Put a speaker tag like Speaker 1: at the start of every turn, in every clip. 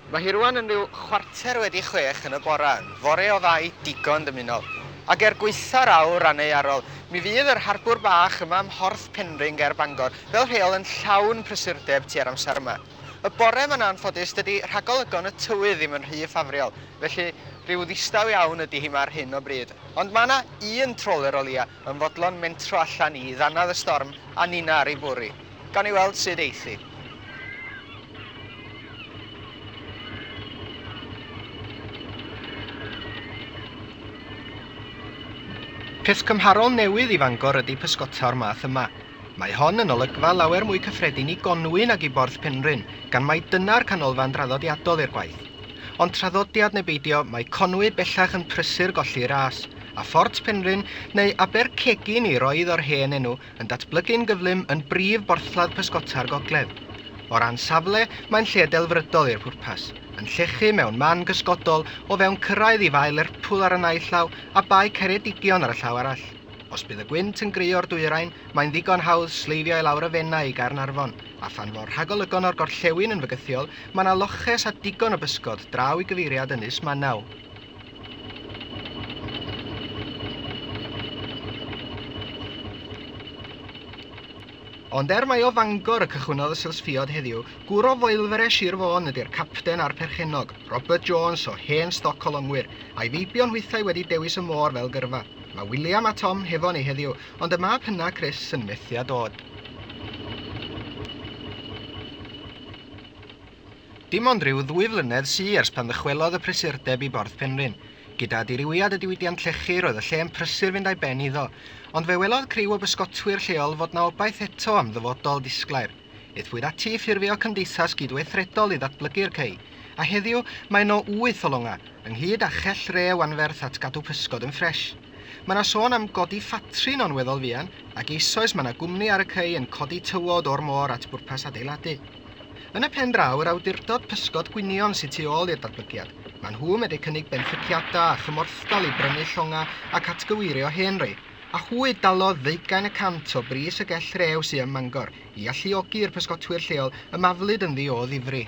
Speaker 1: Mae hi rŵan yn rhyw chwarter wedi chwech yn y bore, yn fore o fai digon dymunol, ac er gwaetha'r awr aneuarol, mi fydd yr harbwr bach yma ym Mhorth Penrhyn ger Bangor fel rheol yn llawn prysurdeb tua'r amser yma. Y bore yma'n anffodus dydi rhagolygon y tywydd ddim yn rhy ffafriol, felly rhyw ddistaw iawn ydi hi 'ma ar hyn o bryd. Ond mae 'na un troler o leia, yn fodlon mentro allan i ddannedd y storm a ninna ar ei bwrw, gawn ni weld sut eith hi. Peth cymharol newydd i Fangor ydy pysgota o'r math yma. Mae hon yn olygfa lawer mwy cyffredin i Gonwy nag i Borth Penrhyn, gan mai dyna'r canolfan draddodiadol i'r gwaith. Ond traddodiad neu beidio, mae Conwy bellach yn prysur golli ras, a Phort Penrhyn, neu Aber Cegin i roedd o'r hen enw, yn datblygu'n gyflym yn brif borthladd pysgota'r gogledd. O ran safle, mae'n lle delfrydol i'r pwrpas, yn llechu mewn man gysgodol o fewn cyrraedd i Fae Lerpwl ar y naill llaw a Bae Ceredigion ar y llaw arall. Os bydd y gwynt yn grio'r dwyrain, mae'n ddigon hawdd sleifio i lawr y Fenai i Gaernarfon, a phan fo'r rhagolygon o'r gorllewin yn fygythiol, mae 'na loches a digon o bysgod draw i gyfeiriad Ynys Manaw. Ond er mai o Fangor y cychwynnodd y sylsfiod heddiw, gwr o Foelfere Sir Fôn ydy'r capten a'r perchennog, Robert Jones o hen stoc colongwyr, a'i feibion hwythau wedi dewis y môr fel gyrfa. Mae William a Tom hefo ni heddiw, ond y mab hynna, Chris, yn methu â dod. Dim ond rhyw ddwy flynedd sy ers pan ddychwelodd y prysurdeb i Borth Penrhyn. Gyda dirywiad y diwydiant llechi roedd y lle yn prysur fynd a'i ben iddo, ond fe welodd criw o bysgotwyr lleol fod 'na obaith eto am ddyfodol disglair. Aethpwyd ati i ffurfio cymdeithas gydweithredol i ddatblygu'r cei, a heddiw mae yno wyth o longa, ynghyd â chell rew anferth at gadw pysgod yn ffresh. Mae yna sôn am godi ffatri no'n weddol fuan, ac eisoes mae yna gwmni ar y cei yn codi tywod o'r môr at bwrpas adeiladu. Yn y pen draw, yr awdurdod pysgod gwynion sydd tu ôl i'r datblygiad. Mae nhw medru cynnig benthyciadau a chymorthdal i brynu llongau ac atgyweirio hen rei. a hwy dalodd ddeugain y cant o bris y gell rew sy ym Mangor i alluogi i'r pysgotwyr lleol ymaflyd ynddi o ddifri.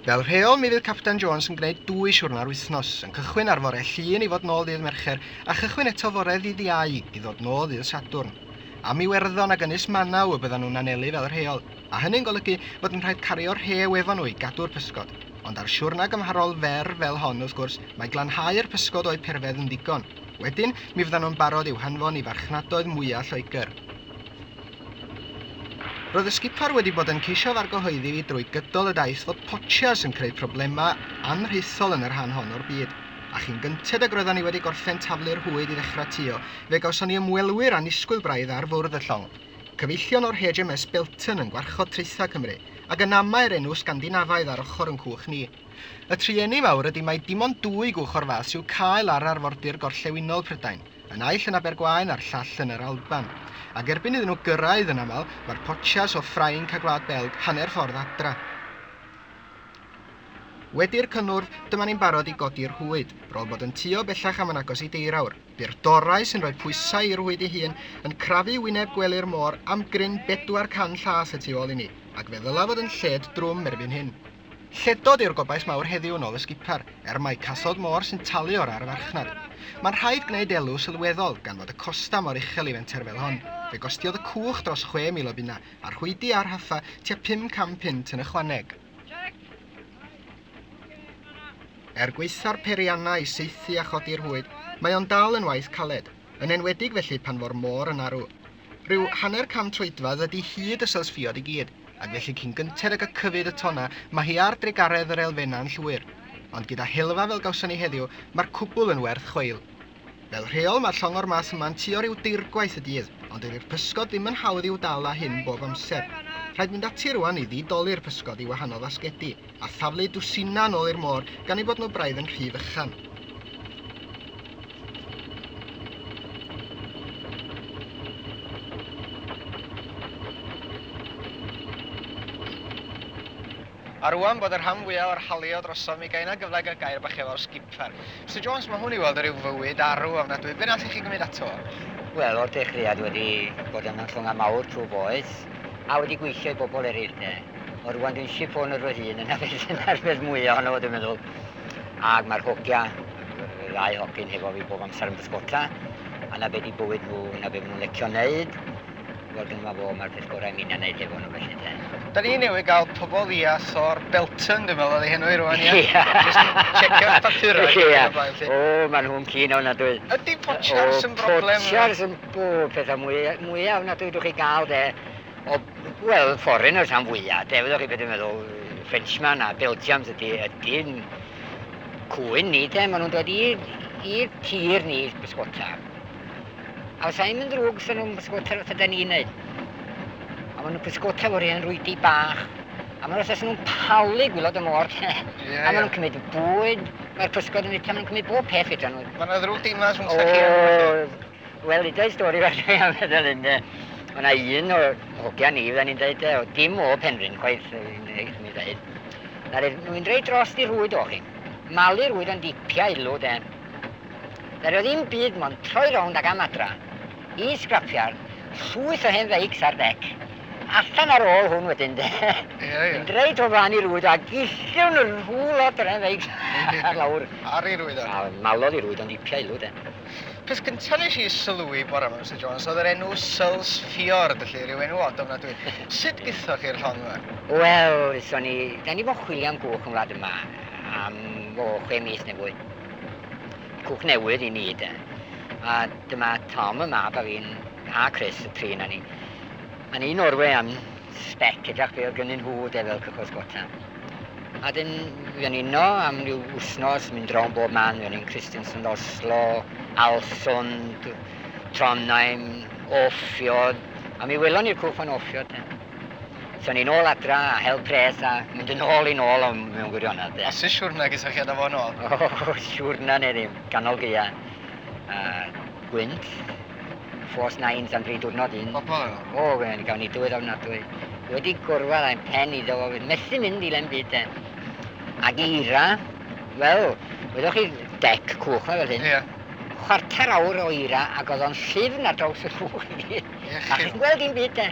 Speaker 1: Fel rheol mi fydd Capten Jones yn gwneud dwy siwrna ar wythnos, yn cychwyn ar fore Llun i fod nôl ddydd Mercher a chychwyn eto fore ddydd Iau i ddod nôl ddydd Sadwrn. Am Iwerddon ag Ynys Manaw y byddan nhw'n anelu fel rheol. a hynny'n golygu bod yn rhaid cario rhew efo nhw i gadw'r pysgod. Ond ar siwrna gymharol fer fel hon, wrth gwrs, mae glanhau'r pysgod o'u perfedd yn ddigon. Wedyn, mi fyddan nhw'n barod i'w hanfon i farchnadoedd mwya' Lloegr. Roedd y sgipar wedi bod yn ceisio fargohoeddi fi drwy gydol y daith fod potsias yn creu problemau anrhithol yn y rhan hon o'r byd, a chyn gynted ag roeddan ni wedi gorffen taflu'r hwyd i ddechrau tio, fe gawson ni ymwelwyr annisgwyl braidd ar fwrdd y llong. Cyfeillion o'r HMS Bilton yn gwarchod traethau Cymru, ac yn amau'r enw Sgandinafaidd ar ochr yn cwch ni. Y trueni mawr ydy mai dim ond dwy gwch o'r fath sy'w cael ar arfordir gorllewinol Prydain, y naill yn Abergwaun a'r llall yn yr Alban. Ac erbyn iddyn nhw gyrraedd, yn aml, mae'r potsias o Ffrainc a Gwlad Belg hanner ffordd adra. Wedi'r cynnwrf, dyma ni'n barod i godi'r hwyd, bron bod yn tuo bellach am yn agos i deurawr. Bu'r dorau sy'n rhoi pwysau i rwyd ei hun yn crafu wyneb gwely'r môr am gryn bedwar can llas y tu ôl i ni, ac fe ddyla fod yn lled drwm erbyn hyn. Lledod yw'r gobaith mawr heddiw yn ôl y sgipar, er mai casod môr sy'n talu o'r arfarchnad. Mae'n rhaid gwneud elw sylweddol, gan fod y costa mor uchel i fenter fel hon. Fe gostiodd y cwch dros chwe mil o bunna, a rhwydi a rhaffa tua pum cam punt yn ychwaneg. Er gwaetha'r peiriannau i saethu a chodi'r hwyd, mae o'n dal yn waith caled, yn enwedig felly pan fo'r môr yn arw. Rhyw hanner can troedfedd ydi hyd y sylsffiod i gyd, ac felly cyn gynted ag y cyfyd y tonna, mae hi ar drugaredd yr elfennau'n llwyr. Ond gyda helfa fel gawson ni heddiw, mae'r cwbl yn werth chweil. Fel rheol mae'r llongor mas yma'n tua rhyw deirgwaith y dydd, ond dydi'r pysgod ddim yn hawdd i'w dal â hyn bob amser. Rhaid mynd ati rwan i ddi-doli'r pysgod i wahanol fasgedi, a thaflu dwsinau nôl i'r môr gan eu bod nhw braidd yn rhy fychan. A rŵan bod y rhan fwya o'r haliaw drosom mi gai na gyfle i gael gair bach efo'r skipper. Mister Jones, mae hwn i weld yn rhyw fywyd arw ofnadwy, be nathoch chi gymryd ato? Wel, o'r dechreuad
Speaker 2: wedi bod yn ymchwynga mawr trwy boeth, a wedi gweithio i bobl eryll de. Ond rŵan dwi'n ship owner fy hun, yna beth yna'r peth mwya ohono fo dwi'n meddwl. Ag mae'r hogia, y ddau hogyn hefo fi bob amser yn bysgota, a na be di bywyd nhw, na be ma nhw'n lecio neud. Wel dyma fo, mae'r peth gorau mi na wneud efo nhw felly te. Da ni newydd gael
Speaker 1: pobol i as o'r Belton dwi'n meddwl oedd ei henw i rwan ie? Ie. Jyst yn checio'r papurau. Ie. Ac yn y blaen 'lly. O
Speaker 2: maen nhw'n keen ofnadwy. Ydi potsiars
Speaker 1: yn broblem? O potsiars yn o
Speaker 2: pethau mwy mwya ofnadwy dwch chi gael de o wel foreigners am fwya de fyddoch chi be dwi'n meddwl Frenchman a Belgians ydi ydi'n cwyn ni de maen nhw'n dod i i'r tir ni bysgota. A os aim yn ddrwg, sy'n nhw'n pysgota fel ydy ni'n neud. A maen nhw'n pysgota fo'r hen rwydi bach. A maen nhw'n nhw'n palu gwylod y môr. yeah, a maen nhw'n cymryd bwyd. Mae'r pysgod yn fita, maen nhw'n cymryd bob peth fita nhw. Mae yna ddrwg dinas yn
Speaker 1: chi yn Wel, i dweud stori
Speaker 2: fel dwi am feddwl yn de. Mae yna un o hogia ni, fydden ni'n dweud, o dim o Penrhyn chwaith, yn ei dweud. Nawr, nhw'n dweud dros di rwyd o chi. Malu rwyd o'n dipia ilw, de. Fe roedd un byd mond troi rownd ag am adra. Un sgrapiar, llwyth o hen feics ar dec. Allan ar ôl hwn wedyn de. Mynd reit o flan i rwyd a gilliwn rhyw lot o'r hen feics ar lawr. Ar i rwyddo. A
Speaker 1: malodd i rwyddo'n dipia
Speaker 2: ilw de. Peth gynta
Speaker 1: nes i sylwi bore ma Mister Jones oedd yr enw Searles Fiord, felly rhyw enw od ofnadwy. Sut githoch chi'r llong ma? Wel, so
Speaker 2: ni, da ni di bod yn chwilio am gwch yn wlad yma am o chwe mis neu fwy. Cwch newydd i ni de. A dyma Tom y mab a fi'n a Chris y tri na ni. A ni Norwe am spec edrych be oedd gynnyn nhw de fel cychwys gota. A dyn fi o'n uno am ryw wsnos, mynd drawn bob man, fi o'n i'n Christensen, Oslo, Alsund, Trondheim, Offiod, a mi welon ni'r cwch fan Offiod. So ni'n ôl adra a hel pres a mynd yn ôl i'n ôl am mewn gwirionedd de. A sy siwrna gysa
Speaker 1: chi adra fo yn ôl? O, siwrna
Speaker 2: neu ddim, ganol gaea. A gwynt, ffos nains am dri diwrnod un. Pobl yno? O, gwen,
Speaker 1: gawn ni dywydd
Speaker 2: ofnadwy. Wedi gorwedd a'n pen iddo fo, methu mynd i len byd de. Ac eira, wel, wyddoch chi dec cwch na fel hyn? Ie. Chwarter
Speaker 1: awr
Speaker 2: o eira ac oedd o'n llifn ar draws y rhwng i gyd. Ie, chi'n... A chi'n gweld dim byd de.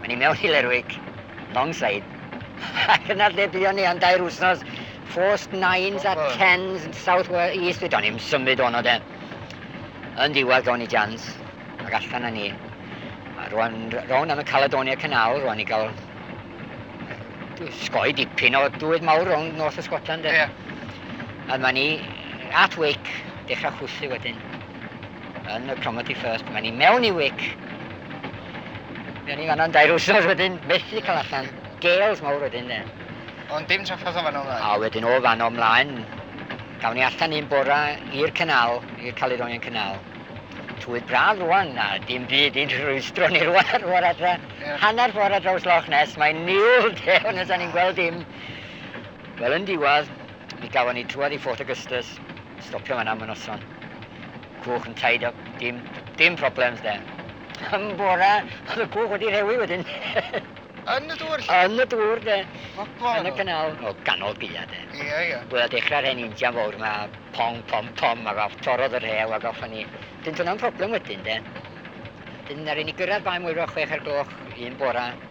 Speaker 2: Mae ni mewn i Lerwick, Longside, ac yna lle buon ni am dair wsnos, Forced Nines a Tens yn South Wales East, fyd o'n i'n symud o'n o de. Yn ddiwedd gawn ni jans, ac allan â ni. A rwan, rown am y Caledonia Canal, rwan i gael sgoi dipyn o dwydd mawr rown nos o Scotland. Yeah. A mae ni at Wick, dechrau chwythu wedyn. Yn y Cromarty First, mae'n i mewn i wic. Mae'n i fanna'n dair wrthnos wedyn, methu cael allan. Gales mawr wedyn de. Ond dim traffodd
Speaker 1: o fan o mlaen. A wedyn o fan o
Speaker 2: mlaen, gawn ni allan un bora i'r canal, i'r Caledonian Canal. Twydd braf rwan, a dim byd i'n rhwystro ni rwan, rwan adra. Yeah. Hanner ffordd ar draws Loch Ness, mae'n niwl de, ond nes ni'n gweld dim. Wel, yn diwadd, Mi gafon ni trwad i Fort Augustus, stopio fan'na am y noson. Cwch yn tied up, dim, dim problems 'de. Yn bora, o'dd y cwch wedi rhewi wedyn. Yn y
Speaker 1: dŵr 'lly? Yn y dŵr 'de.
Speaker 2: Gwbo. Yn y canal,
Speaker 1: o
Speaker 2: ganol gaea 'de. Ia, ia. Wel a dechra'r
Speaker 1: hen
Speaker 2: injan fowr 'ma, pong, pom, pom, ag off, torrodd y rhew ag off a ni. Dyn dyna'n problem wedyn 'de. Dyn aru ni gyrradd Bae Mwyro chwech ar gloch un bora,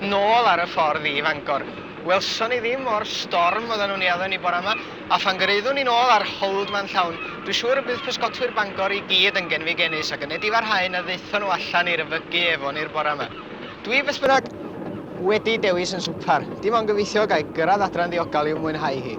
Speaker 1: Nôl ar y ffordd i Fangor. Welson ni ddim o'r storm oedden nhw'n ei addo ni bore yma, a phan gyrhaeddwn ni nôl a'r hold ma'n llawn, dwi siŵr y bydd pysgotwyr Bangor i gyd yn genfigennus ac yn nedi farhau na ddaethon nhw allan i'r yfygu efo ni'r bore yma. Dwi beth bynnag wedi dewis yn swpar, dim ond gobeithio ga i gyrraedd adre'n ddiogel i'w mwynhau hi.